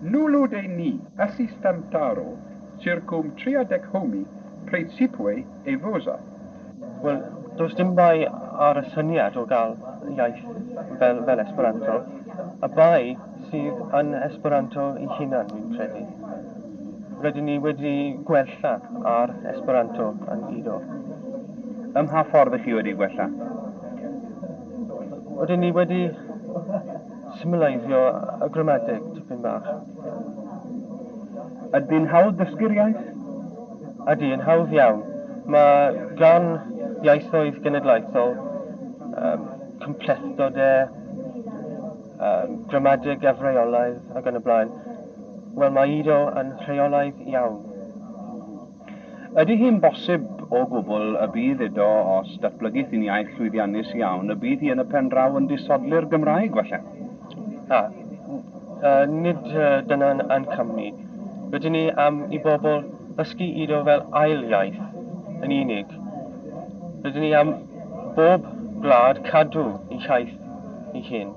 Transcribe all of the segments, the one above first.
Nulu de ni, assistam taro, circum triadec homi praecipue evosa. Wel, does dim bai ar y syniad o gael iaith fel fel Esperanto. Y bai sydd yn Esperanto ei hunan, dwi'n credu. Rydyn ni wedi gwella ar Esperanto yn Ido. Ym mha ffordd ych chi wedi gwella? Rydyn ni wedi symleiddio y gramadeg tipyn bach. Ydy yn hawdd dysgu'r iaith? Ydy, yn hawdd iawn. Mae gan iaithoedd genedlaethol um, cymplethdodau, um, gramadeg efreolaidd ac yn y blaen. Wel, mae Ido yn rheolaidd iawn. Ydy hi'n bosib o gwbl y bydd iddo os datblygith hi'n iaith llwyddiannus iawn y bydd hi yn y pen draw yn disodli'r Gymraeg falle? A, yy, nid dyna'n a'n cam ni. Rydyn ni am i bobl ddysgu Ido fel ail iaith yn unig. Rydyn ni am bob gwlad cadw ei hiaith ei hun.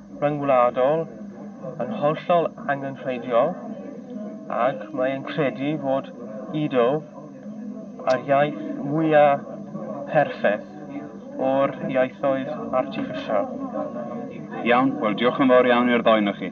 ryngwladol yn hollol angenrheidiol ac mae e'n credu fod Ido yr iaith mwya' perffaith o'r ieithoedd artiffisial. Iawn, wel diolch yn fawr iawn i'r ddou onoch chi.